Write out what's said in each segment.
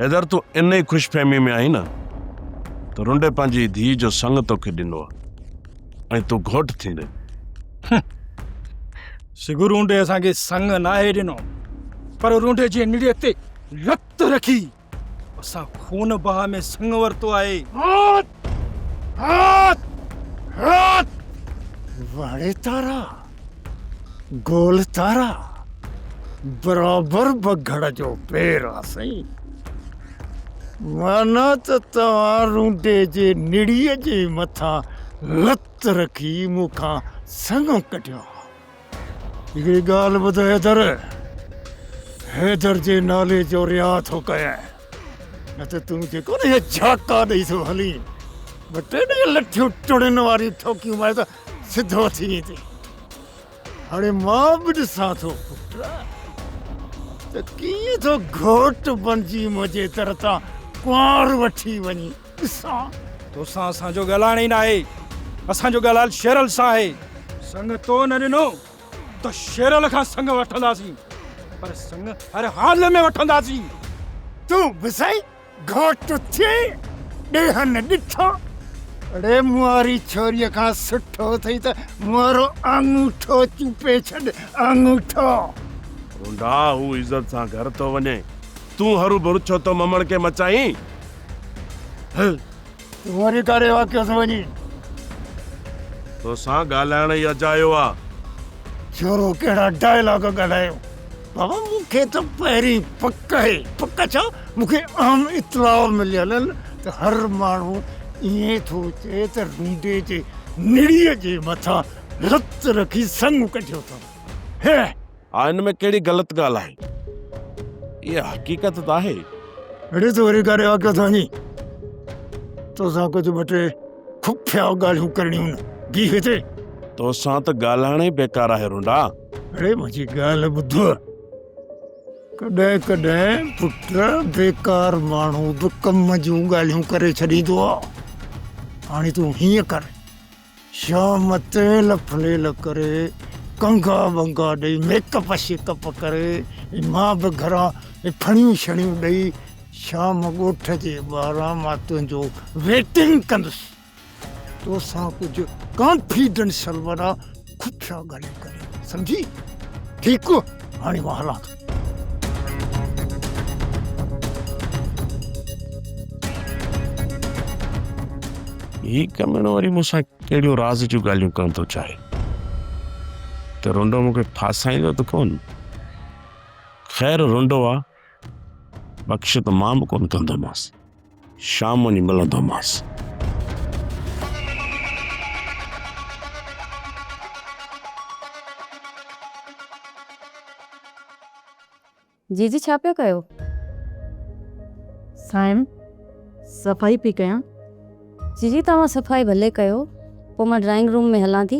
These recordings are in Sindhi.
حيدر تون ان ئي خوش فهمي ۾ آهين نه ته رنڊي پنهنجي ڌيء جو سڱ توکي ڏنو آهي ۽ تون گهوٽ ٿيندين سگهو رونڊي اسان کي سڱ ناهي ڏنو پر رونڊي جي نڙيء تي لت رکي اسان خون بها ۾ سڱ ورتو آهي. هات! هات! هات! واڙي تارا، گول تارا، برابر بگهڙ جو پير آ سائين. معنيٰ ته توهان رونڊي جي نڙيء جي مٿان لت رکي مون کان سڱ ڪڍيو آ. هڪڙي ڳالهه ٻڌ حيدر، حيدر جي نالي جو رياء ٿو ڪيان، نه ته تون کي ڪونه اهي جهاڪا ڏئي ٿو هلين، ٻه ٽي ڏينهن لٺيون ٽڙين واريون ٺوڪيون مارين ته سڌو ٿي ويندين. هاڻي مان به ڏسان ٿو پٽ ته ڪيئن ٿو گهوٽ بڻجي منهنجي در تان ڪنوار وٺي وڃين. اسان توسان اسان جو ڳالهائڻ ئي ناهي اسان جو ڳالهائل شيرل سان آهي سڱ تو نه ڏنو ته شيرل کان سڱ وٺنداسين پر سڱ هر حال ۾ وٺنداسين تون به سائين گهوٽ ٿي ڏيهن ڏٺو اڙي مواري ڇوري کان سٺو اٿئي ته موارو آڱوٺو چوپي ڇڏ آڱوٺو رونڊا هو عزت سان گهر ٿو وڃي تون هرو ڀرو ڇو ٿو ممڻڪي مچائين هي تون وري ڪاري واقعي سان وڃي توسان ڳالهائڻ ئي اجايو آ. شورو ڪهڙا ڊائلاگ ڳالهايو بابا مون کي ته پهرين پڪ آهي پڪ ڇا مون کي اهم اطلاع مليل آهن ته هر ماڻهو ائين ٿو چئي ته رونڊي جي نڙيء جي مٿان هٿ رکي سڱ ڪڍيو اٿم هه ها ان ۾ ڪهڙي غلط ڳالهه آهي اها حقيقت ته آهي اڙي ته وري ڪاري واقعو ٿو وڃي توسان ڪجهه ٻه ٽي خفيا ڳالهيون ڪرڻيون نه بي هتي توسان ته ڳالهائڻ ئي بيڪار آهي رونڊا اڙي منهنجي ڳالهه ٻڌ ڪڏهن ڪڏهن پٽ بيڪار ماڻهو به ڪم جون ڳالهيون ڪري ڇڏيندو آ هاڻي تون هيئن ڪر شام تيل ڦليل ڪري ڪنگا ٻنگا ڏئي ميڪ اپ شيڪ اپ ڪري مان به گهران ڦڻيون شڻيون ڏئي شام ڳوٺ جي ٻاهران مان تنهنجو ويٽنگ ڪندس توسان ڪجهه ڪانفيڊنشل وارا کٺيا ڳالهيون ڪري سمجهي ٺيڪ هاڻي مان هلان ٿو. هي ڪميڻو وري مون سان ڪهڙيون راز جون ڳالهيون ڪرڻ ٿو چاهي ته رونڊو مون کي ڦاسائيندو ته ڪون خير رونڊو آ بخش ته مان به ڪون ڪندومانس شام وڃي ملندومانس. جي جي ڇا پيا ڪيو؟ سائين صفائي پئي ڪيان. جي جي توهان صفائي ڀلي ڪيو پوء مان ڊرائنگ روم ۾ هلان ٿي.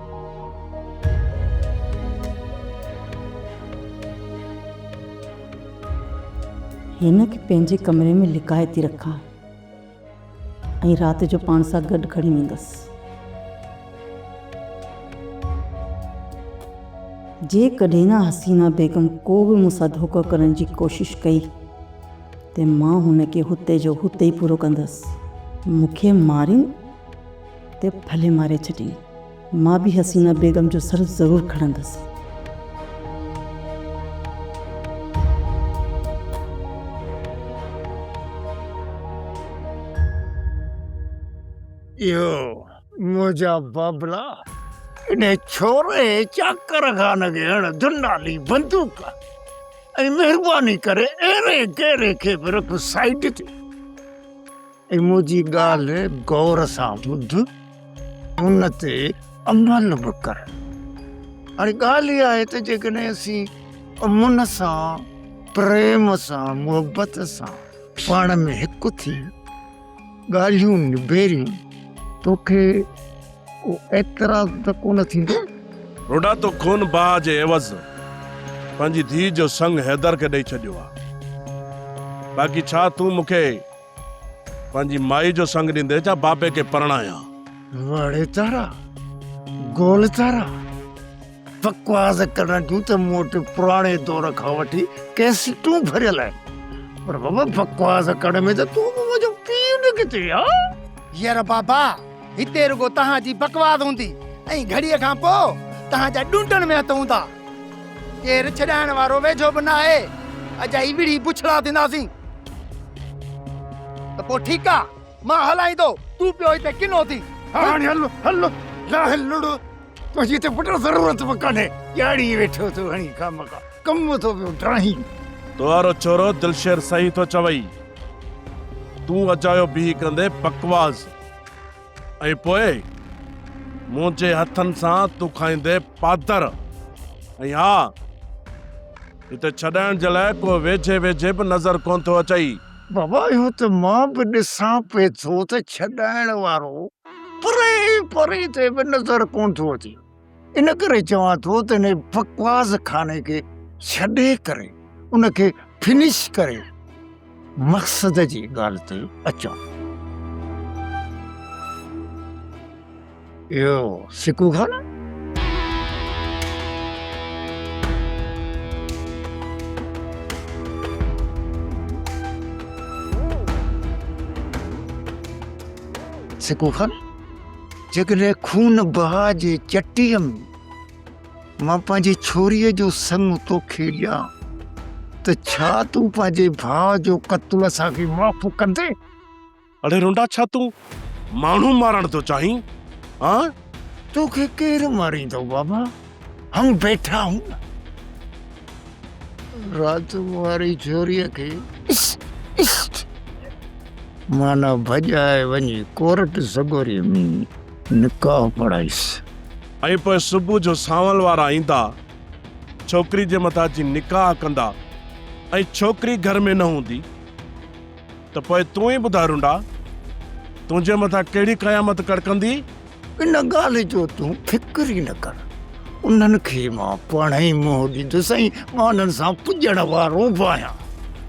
هن کي پنهنجي ڪمري ۾ لڪائي ٿي رکان ۽ رات جو پاڻ سان گڏ کڻي ويندس. جيڪڏهن حسينه بيگم ڪو به مون سان ڌوڪو ڪرڻ جي ڪوشش ڪئي ته مان هن کي هتي جو هتي ئي پورو ڪندس. مون کي مارين؟ تي ڦلي ماري ڇڏي. مان به حسينه بيگم جو سر ضرور کڻندس. اهو منهنجا بابلا انهي ڇوري چاڪر خان کي هڻ دنالي بندوق ۽ مهرباني ڪري اهڙي گيري کي به رک سائيڊ تي. منهنجي ڳالهه غور سان ٻڌ ان تي عمل به ڪر. هاڻي ڳالهه اها آهي ته جيڪڏهن اسين امن سان، پريم سان، محبت سان پاڻ ۾ هڪ ٿي ڳالهيون نبيريون توکي ڪو اعتراض ته ڪونه ٿيندو. روڊا تو خون بهاء جي عيوض پنهنجي ڌيء جو سڱ حيدر کي ڏئي ڇڏيو آهي. باقي ڇا تون مون کي پنهنجي مائي جو سنگ ڏيندي جا بابي کي پرڻايان. وڙي تارا گول تارا بڪواس ڪرڻ جون ته مون وٽ پراڻي دور کان وٺي ڪيسيٽون ڀريل آهن پر بابا بڪواس ڪرڻ ۾ ته تون به منهنجو پيء نڪتي ها. يار بابا هتي رڳو توهان جي بڪواس هوندي ۽ گهڙيء کان پوء توهان جا ڏونٽن ۾ هٿ هوندا. ڪير ڇڏائڻ وارو ويجهو به ناهي. اجائي وڙهي بڇڙا ٿينداسين. ته پوء ٺيڪ آ، مان هلائيندو، تون پيو هتي ڪنو ٿي. هاڻي هل، هل، لاهه لڙ، تنهنجي هتي پٽ ضرورت به ڪانهي، ڄاڙي ويٺو ٿو هڻي خامخا، ڪم ٿو پيو ڊاهين. توهارو ڇورو دلشير صحيح ٿو چوئي. تون اجايو بيهي ڪندين بڪواس. ۽ پوء منهنجي هٿن سان تون کائيندي پادر ۽ ها هتي ڇڏائڻ جي لاء ڪو ويجهي ويجهي به نظر ڪونه ٿو اچئي. بابا اهو ته مان به ڏسان پئي ٿو ته ڇڏائڻ وارو پري پري تي به نظر ڪونه ٿو اچي. ان ڪري چوان ٿو ته هن بڪواس خاني کي ڇڏي ڪري ان کي فنش ڪري مقصد جي ڳالهه تي اچون. اهو سڪو خانه. سڪو خان. جيڪڏهن خون بها جي چٽيء ۾ مان پنهنجي ڇوريء جو سڱ توکي ڏيان ته ڇا تون پنهنجي ڀاء جو قتل اسان کي معاف ڪندين؟ اڙي رونڊا ڇا تون ماڻهو مارڻ ٿو چاهين؟ ها؟ توکي ڪير ماريندو بابا؟ هم بيٺا هون نه رات واري جوري کي مانا ڀڄائي وڃي ڪورٽ سگوري ۾ نڪاح پڙهائيس ۽ پوء صبح جو سانول وارا ايندا ڇوڪري جي مٿان اچي نڪاح ڪندا ۽ ڇوڪري گهر ۾ نه هوندي ته پوء تون ئي ٻڌاء رونڊا تنهنجي مٿان ڪهڙي قيامت ڪڙڪندي ان ڳالهه جو تون فڪر ئي نه ڪر، انهن کي مان پاڻ ئي منهن ڏيندس ۽ مان انهن سان پڄڻ وارو به آهيان،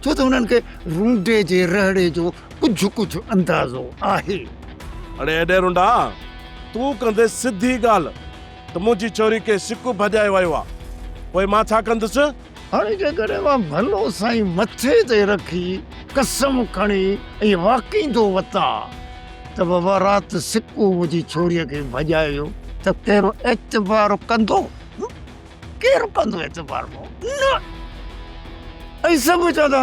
ڇو ته انهن کي رونڊي جي رهڙي جو ڪجهه ڪجهه اندازو آهي. اڙي ايڏي رونڊا، تون ڪندي سڌي ڳالهه ته منهنجي ڇوري ڪنهن سڪ ڀڄائي ويو آهي، پوء مان ڇا ڪندس؟ هاڻي جيڪڏهن مان ڀلو سائين مٿي تي رکي قسم کڻي ائين واڪينگ ٿو وتان ته بابا رات سڪو منهنجي ڇوريء کي ڀڄائي ويو ته ڪير اعتبار ڪندو؟ ڪير ڪندو اعتبار؟ نه! ۽ سڀ چوندا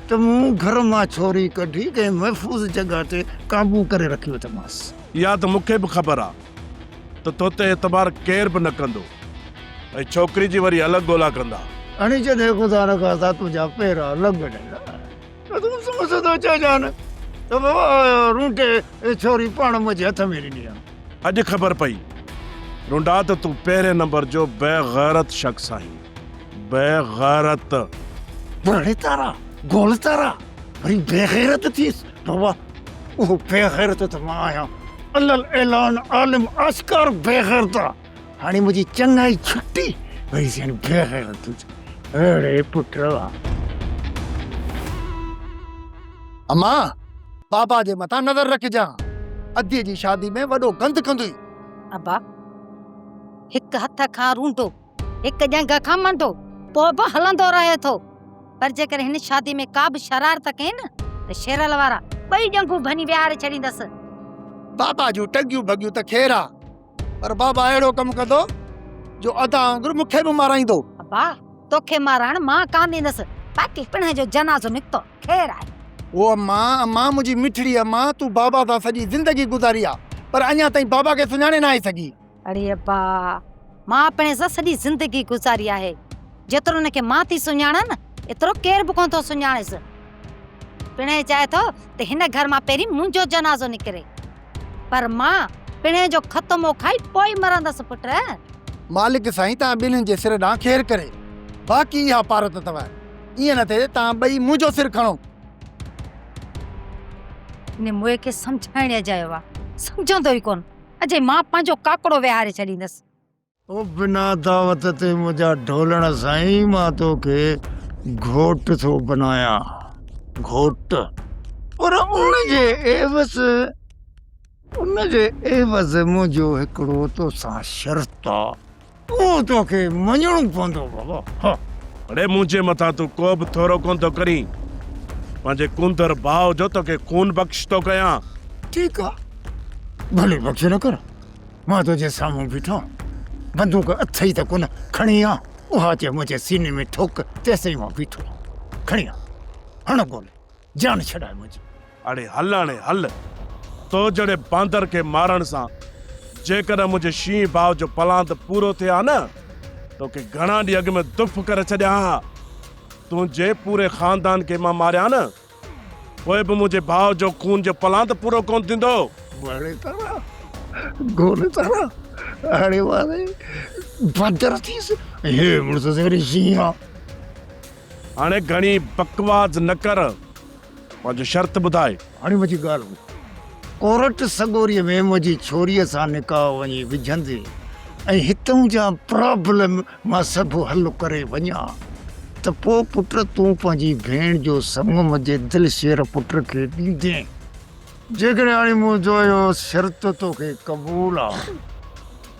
ته مون گهر مان ڇوري ڪڍي ڪنهن محفوظ جڳهه تي قابو ڪري رکي اٿمانس. اها ته مون کي به خبر آ. ته تو تي اعتبار ڪير به نه ڪندو ۽ ڇوڪري جي وري الڳ ڳولا ڪندا. اڻي چي دي خدا نه کاسا تنهنجا پير الڳ ڏندا ته تون سمجهه سڌو چئجان ته بابا رونٽي اي ڇوري پاڻ منهنجي هٿ ۾ ڏني آ. اڄ خبر پئي رونڊا ته تون پهرين نمبر جو بي غيرت شخص آهين. بي غيرت. ڀڙي تارا گول تارا وري بي غيرت ٿيس. بابا اهو بيغيرت ته مان آهيان علي الاعلان عالم آسڪار بيغيرت آ هاڻي منهنجي چڱائي ڇٽي وري سين بيغيرت اڙي پٽ اما بابا جي مٿان نظر رکجان ادي جي شادي ۾ وڏو گند ڪندوئي ابا هڪ هٿ کان رونڊو هڪ ڄنگهه کان منڊو پوء به هلندو رهي ٿو، پر جيڪر هن شادي ۾ ڪا به شرارت ڪئي نه ته شيرل وارا ٻئي ڄنگهون ڀڃي ويهاري ڇڏيندس. بابا جون ٽنگيون ڀڳيون ته خير آ، پر بابا اهڙو ڪم ڪندو جو ادا وانگر مون کي به مارائيندو. ابا توکي مارائڻ مان ڪانه ڏيندس، باقي پڻهين جو جنازو نڪتو خير آهي. او اما، اما منهنجي مٺڙي اما، تون بابا سان سڄي زندگي گذاري آ، پر اڃا تائين بابا کي سڃاڻي ناهي سگهي. اڙي ابا، مان پڻ سان سڄي زندگي گذاري آهي. جيترو ان کي مان ٿي سڃاڻان، ايترو ڪير به ڪونه ٿو سڃاڻيس. پڻهين چاهي ٿو ته هن گهر مان پهرين منهنجو جنازو نڪري. پر مان پڻهين جو ختمو کائي پوء ئي مرندس پٽ. مالڪ سائين توهان ٻنهين جي سر ڏانهن خير ڪري. باقي اها پارت اٿو. ائين نه ٿئي ته توهان ٻئي منهنجو سر کڻو. هن موئي کي سمجهائڻ اجايو آهي، سمجهندو ئي ڪونه. اجي مان پنهنجو ڪاڪڙو ويهاري ڇڏيندس. او بنا دعوت تي منهنجا ڍولڻ سائين مان توکي گهوٽ ٿو بنايان گهوٽ پر ان جي عيوض ان جي عيوض منهنجو هڪڙو توسان شرط آ. تون توکي مڃڻو پوندو بابا ها. اڙي منهنجي مٿان تون ڪوبه ٿورو ڪونه ٿو ڪرين پنهنجي ڪونڌر ڀاء جو توکي خون بخش ٿو ڪيان. ٺيڪ آ ڀلي بخش نه ڪر مان تنهنجي سامهون بيٺو آهيان بندوق اٿئي ته ڪونه کڻي آ اها چي منهنجي سيني ۾ ٺوڪ تيسين مان بيٺو آهيان کڻي آ هڻ گولي. جان ڇڏاء منهنجي. اڙي هل اڙي هل. تو جهڙي باندر کي مارڻ سان جيڪڏهن منهنجي شينهن ڀاء جو پلاند پورو ٿئي ها نه توکي گهڻا ڏينهن اڳ ۾ دڦ ڪري ڇڏيان ها. تنهنجي پوري خاندان کي مان ماريان نه پوء به منهنجي ڀاء جو خون جو پلاند پورو ڪونه ٿيندو. وڻي تارا گول تارا اڙي واري باندر ٿيس هي مڙس سهري شينهن آ. هاڻي گهڻي بڪواس نه ڪر پنهنجو شرط ٻڌاء. هاڻي منهنجي ڳالهه ٻڌ. ڪورٽ سڳوريء ۾ منهنجي ڇوريء سان نڪاح وڃي وجهندين ۽ هتئون جا پرابلم مان سڀ حل ڪري وڃان ته پوء پٽ تون پنهنجي ڀيڻ جو سڱ منهنجي دلشير پٽ کي ڏيندين. جيڪڏهن هاڻي منهنجو اهو شرط توکي قبول آ.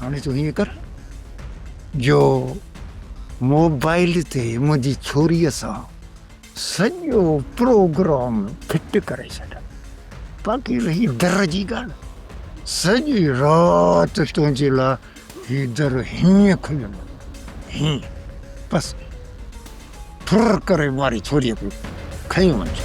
هاڻي تون هيئن ڪر جو موبائيل تي منهنجي ڇوريء سان سڄو پروگرام فٽ ڪري ڇڏ باقي رهي در جي ڳالهه سڄي رات تنهنجي لاء هي در هيئن کليل هيئن بس ڦر ڪري ماري ڇوريء کي کنيو وڃ.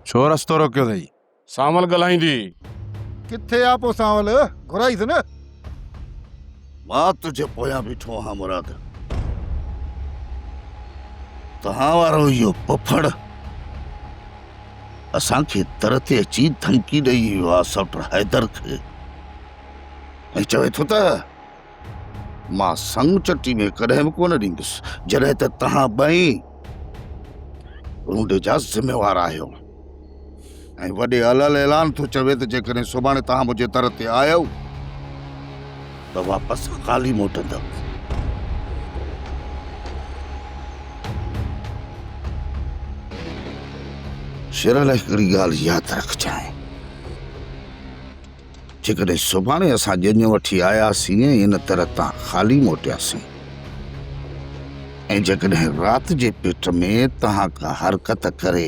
ڇو رستو روڪيو اٿئي؟ سانول ڳالهائيندي. ڪٿي آ پوء سانول؟ گهرائيس نه. مان تنهنجي پويان بيٺو آهيان مراد. توهان وارو اهو پڦڙ. اسان کي در تي اچي ڌمڪي ڏئي ويو آهي سوٽر حيدر کي ۽ چوي ٿو ته مان سڱ چٽي ۾ ڪڏهن به ڪونه ڏيندس جڏهن ته توهان ٻئي رونڊي جا ذميوار آهيو ۽ وڏي العل اعلان ٿو چوي ته جيڪڏهن سڀاڻي توهان منهنجي در تي آيو ته واپس خالي موٽندا. شير علي هڪڙي ڳالهه ياد رکجانء، جيڪڏهن سڀاڻي اسان ڄڃ وٺي آياسين ۽ ان طرح تان خالي موٽياسين ۽ جيڪڏهن رات جي پيٽ ۾ توهان ڪا حرڪت ڪري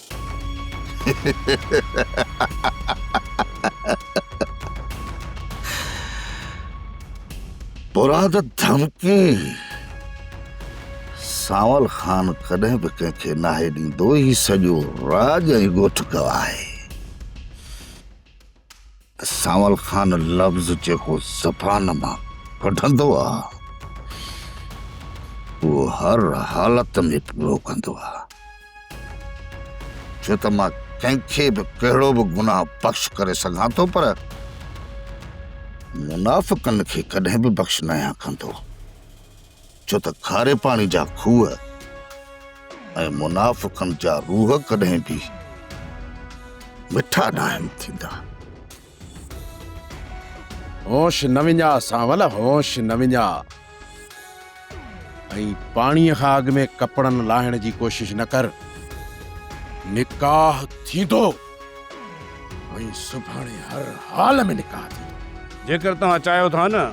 مراد ڌمڪي سانول خان ڪڏهن به ڪنهن کي ناهي ڏيندو هي سڄو راڄ ۽ ڳوٺ گواهه آهي سانول خان لفظ جيڪو زبان مان ڪڍندو آ اهو هر حالت ۾ پورو ڪندو آ ڇو ته مان ڪنهن کي به ڪهڙو به گناهه بخش ڪري سگهان ٿو پر منافقن کي ڪڏهن به بخش نه آهيان ڪندو ڇو ته کاري پاڻي جا کوهه ۽ منافقن جا روهه ڪڏهن به مٺا ناهن ٿيندا. هوش نه وڃاء سانول هوش نه وڃاء ۽ پاڻي کان اڳ ۾ ڪپڙن لاهڻ جي ڪوشش نه ڪر. نڪاح ٿيندو. ۽ سڀاڻي هر حال ۾ نڪاح ٿي. جيڪر توهان چاهيو ٿا نه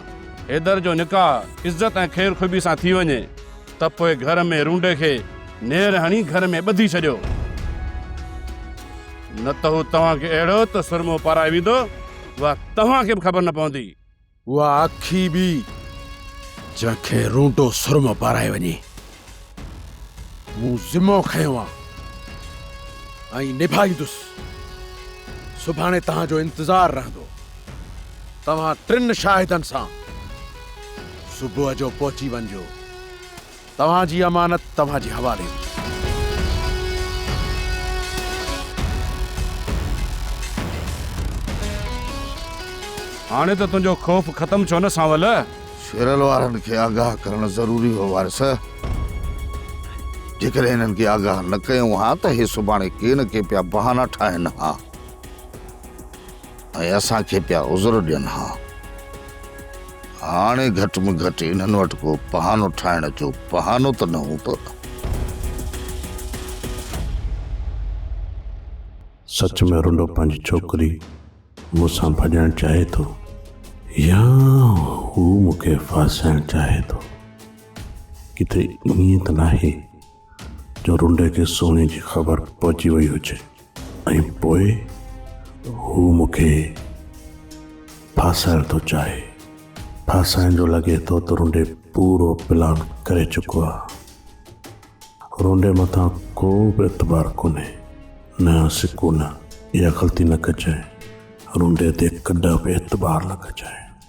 حيدر جو نڪاح عزت ۽ خير خوبي سان ٿي وڃي ته پوء گهر ۾ رونڊي کي نير هڻي گهر ۾ ٻڌي ڇڏيو. نه ته هو توهان کي اهڙو ته سرمو پارائي ويندو اها توهان کي به خبر نه پوندي. اها اکي به جنهن کي رونڊو سرمو پارايو وڃي مون ذمو کنيو آ ۽ نڀائيندس سڀاڻي توهان جو انتظار رهندو توهان ٽن شاهدن سان صبح جو پهچي وڃجو توهان جي امانت توهان جي حوالي هوندي. هاڻي ته تنهنجو خوف ختم ڇو نه سانول؟ شيرل وارن کي آگاهه ڪرڻ ضروري هو وارث. جيڪڏهن هنن کي آگاهه نه ڪيون ها ته هي سڀاڻي ڪي نه ڪي پيا بهانا ٺاهن ها. ۽ اسان کي پيا عذر ڏين ها. هاڻي گهٽ ۾ گهٽ انهن وٽ ڪو بهانو ٺاهڻ جو بهانو ته نه هوندو نه؟ سچ ۾ رنڊو پنهنجي ڇوڪري مون سان ڀڄڻ چاهي ٿو يا هو مون کي ڦاسائڻ چاهي ٿو؟ ڪٿي ائين ته ناهي؟ جو رونڊي کي سونهن جي خبر پهچي وئي هجي ۽ پوء هو مون کي ڦاسائڻ ٿو چاهي ڦاسائڻ جو لڳي ٿو ته رونڊي پورو پلان ڪري چڪو آهي رونڊي مٿان ڪو به اعتبار ڪونهي نه سڪون اها غلطي نه ڪجانء رونڊي تي ڪڏهن به اعتبار نه ڪجانء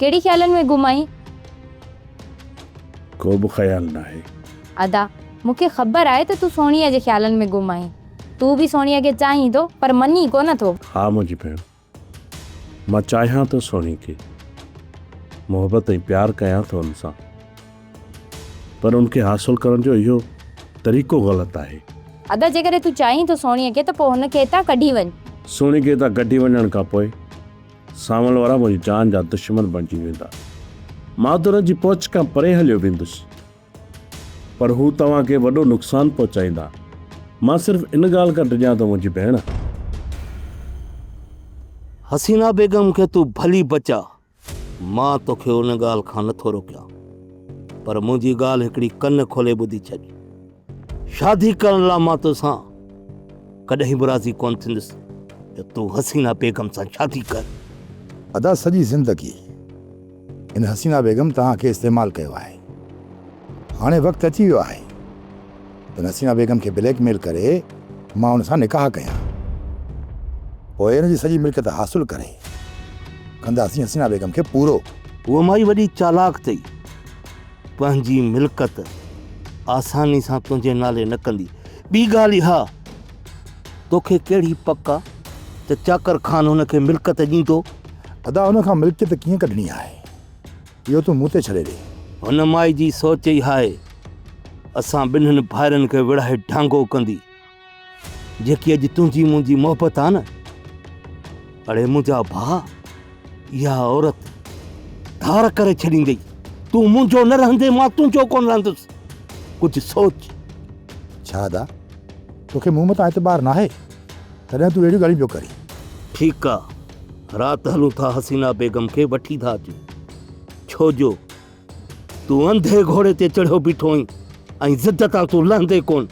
ڪهڙي خيالن ۾ گم آهين؟ ڪو به خيال ناهي. ادا، مون کي خبر آهي ته تون سهڻيء جي خيالن ۾ گم آهين. تون به سهڻيء کي چاهين ٿو، پر مڃين ڪو نه ٿو. ها منهنجي ڀيڻ، مان چاهيان ٿو سهڻيء کي. محبت ۽ پيار ڪيان ٿو ان سان. پر ان کي حاصل ڪرڻ جو اهو طريقو غلط آهي. ادا، جيڪڏهن تون چاهين ٿو سهڻيء کي ته پوء هن کي هتان ڪڍي وڃ. سهڻي کي هتان ڪڍي وڃڻ کان پوء سانول وارا منهنجي جان جا دشمن بڻجي ويندا. مان ته انهن جي پهچ کان پري هليو ويندس. پر هو توهان کي وڏو نقصان پهچائيندا. مان صرف ان ڳالهه کان ڊڄان ته منهنجي ڀيڻ. حسينا بيگم کي تون ڀلي بچاء. مان توکي ان ڳالهه کان نٿو روڪيان. پر منهنجي ڳالهه هڪڙي ڪن کولي ٻڌي ڇڏ. شادي ڪرڻ لا مان توسان ڪڏهن به راضي ڪونه ٿيندس ته تون حسينا بيگم سان شادي ڪر. ادا سڄي زندگي هن حسينا بيگم توهان کي استعمال ڪيو آهي هاڻي وقت اچي ويو آهي ته ان حسينا بيگم کي بليڪ ميل ڪري مان ان سان نڪاح ڪيان پوء ان جي سڄي ملڪيت حاصل ڪري ڪنداسين حسينا بيگم کي پورو. هوء مائي وڏي چالاڪ اٿئي. پنهنجي ملڪت آساني سان تنهنجي نالي نه ڪندي. ٻي ڳالهه اها توکي ڪهڙي پڪ آ ته چاڪر خان هن کي ملڪت ڏيندو؟ ادا هن کان ملڪيت ڪيئن ڪڍڻي آهي اهو تون مون تي ڇڏي ڏي. هن مائي جي سوچ اها آهي اسان ٻنهن ڀائرن کي وڙهائي ڍانگو ڪندي. جيڪي اڄ تنهنجي منهنجي محبت آ نه، اڙي منهنجا ڀاء اها عورت ڌار ڪري ڇڏيندي. تون منهنجو نه رهندي مان تنهنجو ڪونه رهندس. ڪجهه سوچ. شهادا توکي مون متان اعتبار ناهي تڏهن تون اهڙيون ڳالهيون پيو ڪرين. ٺيڪ آ رات هلون ٿا حسينا بيگم کي وٺي ٿا اچون ڇو جو تون انڌي گهوڙي تي چڙهيو بيٺو آهين ۽ ضد تان تون لهندي ڪونه.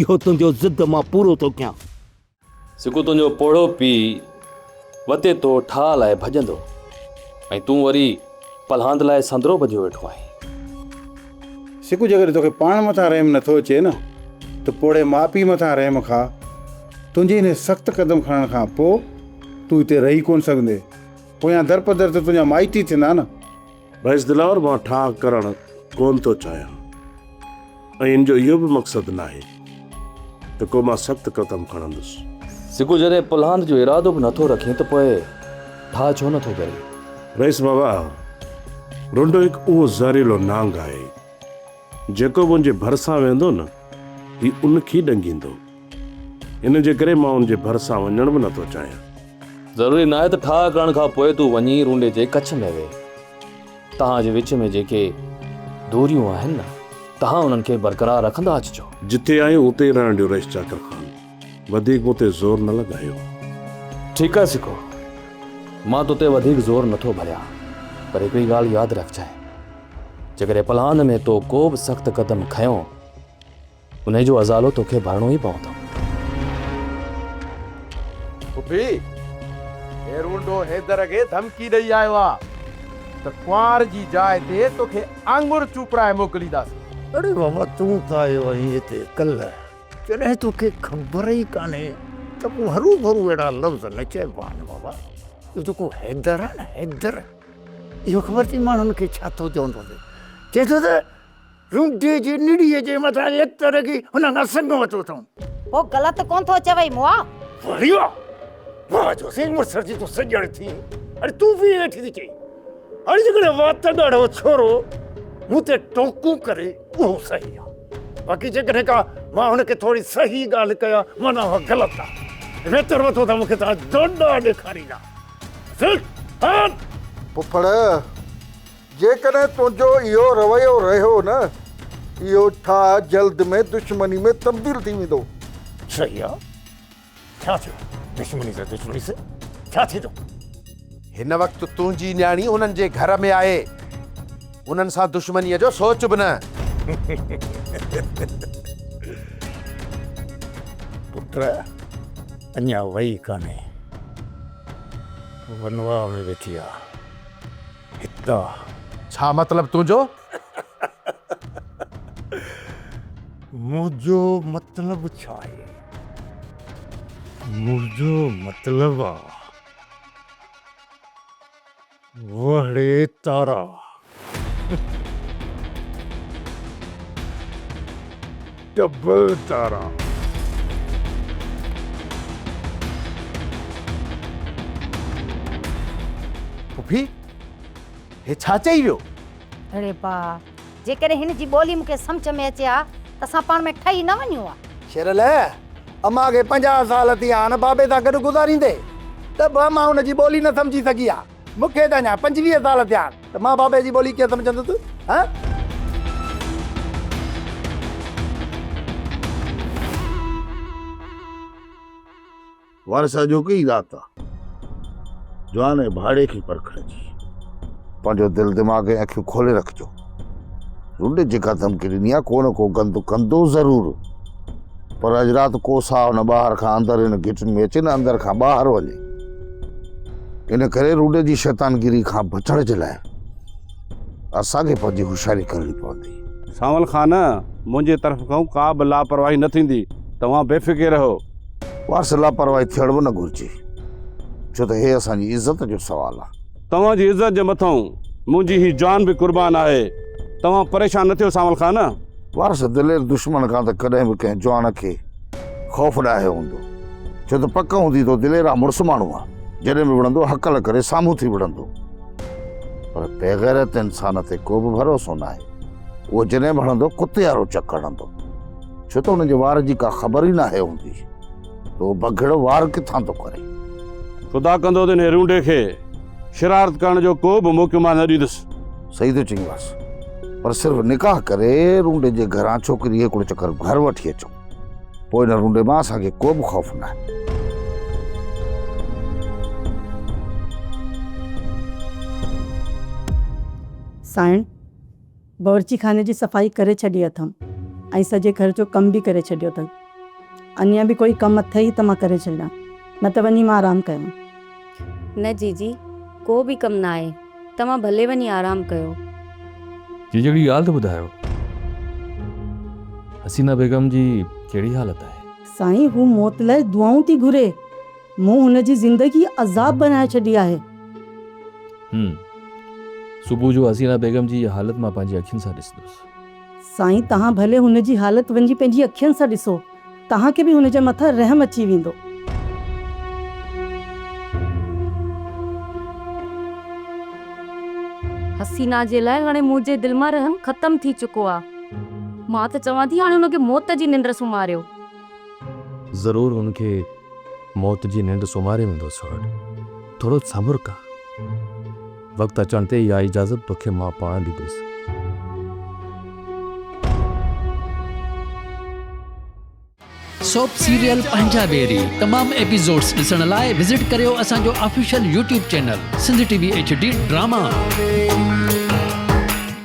اهو تنهنجو ضد مان پورو ٿو ڪيان. سڪو تنهنجو پوڙهو پيء وتي تو ٺاهه لاء ڀڄندو ۽ تون وري پلهاند لاء سندرو ٻڌيو ويٺو آهين. سڪو جيڪڏهن توکي پاڻ مٿان رحم نه ٿو اچي نه ته پوڙهي ماء پيء مٿان رحم کا. تنهنجي انهي سخت قدم کڻڻ کان پوء تون هتي رهي ڪونه سگهندي. پويان درپدر ته تنهنجا مائٽ ئي ٿيندا نه. بحث دلاور مان ٺاهه ڪرڻ ڪونه ٿو چاهيان ۽ ان جو اهو به مقصد ناهي ته ڪو مان سخت قدم کڻندس. سگهو جڏهن پلهاند جو ارادو به نٿو رکين ته پوء ٺاهه ڇو نٿو ڪرين؟ رئيس بابا، رنڊو هڪ اهو زهريلو نانگ آهي. جيڪو منهنجي ڀرسان ويندو نه هي ان کي ڏنگيندو. ان جي ڪري مان ان جي ڀرسان وڃڻ به نٿو چاهيان. ضروري ناهي ته ٺاهه ڪرڻ کان پوء تون وڃي رونڊي جي ڪڇ ۾ ويهه. توهان جي وچ ۾ جيڪي دوريون آهن نه توهان انهن کي برقرار رکندا اچجو. جتي آهيون اتي ئي رهڻ ڏيو رئيس چاڪر خان. وڌيڪ مون تي زور نه لڳايو. ٺيڪ آهي سکو، مان تو تي وڌيڪ زور نه ٿو ڀريان، پر هڪڙي ڳالهه ياد رکجانء، جيڪڏهن پلان ۾ تو ڪو به سخت قدم کنيو، انهي جو ازالو توکي ڀرڻو ئي پوندو. ڦڦي، هي رونڊو حيدر کي ڌمڪي ڏئي آيو آ ته ڪنوار جي جاء تي توکي آڱر چوپڙائي موڪلينداسين. اڙي ماما تون ته آيو آهين هتي ڪلهه. جڏهن توکي خبر ئي ڪانهي ته پوء هروڀرو اهڙا لفظ نه چئبا آهن بابا. اهو جيڪو حيدر آهي نه حيدر اهو خبر اٿئي ماڻهن کي ڇا ٿو چوندو ٿي. چئي ٿو ته رونڊي جي نڙيء جي مٿان ايتر رڳي هن کان سڱ ورتو اٿئون. هو غلط ڪونه ٿو چوئي مئا. واري واهه. واهه جو سين مڙسر جي تون سڄڻ ٿي اڙي تون به ائين ويٺي ٿي چئين. هاڻي جيڪڏهن وات ڳاڙهو ڇورو مون تي ٽوڪون ڪري اهو صحيح آ باقي جيڪڏهن ڪا مان هن کي ٿوري صحيح ڳالهه ڪيا معنيٰ اها غلط آ ويتر وٿو ته مون کي توهان ڊونڊا ڏيکاريندا سر هان پڦڙ جيڪڏهن تنهنجو اهو رويو رهيو نه اهو ٺاهه جلد ۾ دشمني ۾ تبديل ٿي ويندو. صحيح آ. ڇا ٿيو دشمني سان دشمني سان ڇا ٿي ٿو. هن وقت تنهنجي نياڻي انهن جي گهر ۾ آهي انهن سان دشمنيء جو سوچ به نه. پٽ اڃا وئي ڪانهي ونواهه ۾ ويٺي آهي هتان. ڇا مطلب تنهنجو. منهنجو مطلب ڇا آهي؟ منهنجو مطلب آ وهڙي تارا. ڊبل تارا. پڦي! هي ڇا چئي ويو؟ اڙي باء! جيڪڏهن هن جي ٻولي مون کي سمجهه ۾ اچي ها ته اسان پاڻ ۾ ٺهي نه وڃون ها. شيرلئه! امان کي پنجاهه سال ٿيا آهن بابي سان گڏ گذاريندي ته به امان ان جي ٻولي نه سمجهي سگهي آ. مون کي ته اڃا پنجويهه سال ٿيا آهن ته مان بابي جي ٻولي ڪيئن سمجهندس هه. وارث اڄوڪي ئي رات آ جوان ۽ ڀاڙي کي پرکڻ جي. پنهنجو دل دماغ ۽ اکيون کولي رکجو. رڍ جيڪا ڌمڪي ڏني آ ڪو نه ڪو گند ڪندو ضرور. پر اڄ رات ڪو ساهه نه ٻاهر کان اندر هن گهٽين ۾ اچي نه اندر کان ٻاهر وڃي. ان ڪري رڍ جي شيطانگيري کان بچڻ جي لاء. اسان کي پنهنجي هوشياري ڪرڻي پوندي. سانول خان، منهنجي طرف کان ڪا به لاپرواهي نه ٿيندي، توهان بي فڪر رهو. وارث، لاپرواهي ٿيڻ به نه گهرجي، ڇو ته هي اسان جي عزت جو سوال آهي. توهان جي عزت جي مٿئون منهنجي هي جان به قربان آهي، توهان پريشان نه ٿيو سانول خان. وارث، دلير دشمن کان ته ڪڏهن به ڪنهن جوان کي خوف ڏاهيو هوندو، ڇو ته پڪ هوندي تو دليرا مڙس ماڻهو آهي، جڏهن به وڙهندو هڪل ڪري سامهون ٿي وڙهندو. پر بيغيرت انسان تي ڪو به ڀروسو ناهي. اهو جڏهن به هڻندو ڪتي وارو چڪ هڻندو. ڇو ته ان جي وار جي ڪا خبر ئي ناهي هوندي ته اهو بگهڙو وار ڪٿان ٿو ڪري. خدا ڪندو ته انهيء رونڊي کي شرارت ڪرڻ جو ڪو به موقعو مان نه ڏيندس. صحيح ٿو چئين واس. پر صرف نڪاح ڪري رونڊي جي گهران ڇوڪري هڪڙو چڪر گهر وٺي اچو. پوء هن رونڊي مان اسان کي ڪو به خوف نه آهي. سائڻ، باورچي خاني جي صفائي ڪري ڇڏي اٿم ۽ سڄي گهر جو ڪم به ڪري ڇڏيو اٿس. اڃا به ڪوئي ڪم اٿئي ته مان ڪري ڇڏيان، نه ته وڃي مان آرام ڪيان. نه جيجي، ڪو به ڪم نه آهي، توهان ڀلي وڃي آرام ڪيو. جيجي هڪڙي ڳالهه ته ٻڌايو، حسينه بيگم جي ڪهڙي حالت آهي؟ سائين هو موت لاء دعائون ٿي گهري، مون هن جي زندگي عذاب بنائي ڇڏي آهي. هم. صبح جو حسينه بيگم جي هيء حالت مان پنهنجي اکين سان ڏسندس. سائين توهان ڀلي هن جي حالت وڃي پنهنجي اکين سان ڏسو. توهان کي به هن جي مٿان رحم اچي ويندو. حسينا جي لاء هاڻي منهنجي دل مان رحم ختم ٿي چڪو آ. مان ته چوان ٿي هاڻي هن کي موت جي ننڊ سمهاريو. ضرور هن کي موت جي ننڊ سمهاري ويندو سهڻ. ٿورو صبر ڪر. وقت اچڻ تي اها اجازت توکي مان پاڻ ڏيندس. سوپ سيريل پنهنجا بيري تمام ايپيسوڊس ڏسڻ لاء وزٽ ڪريو اسان جو official YouTube channel Sindh T V H D drama.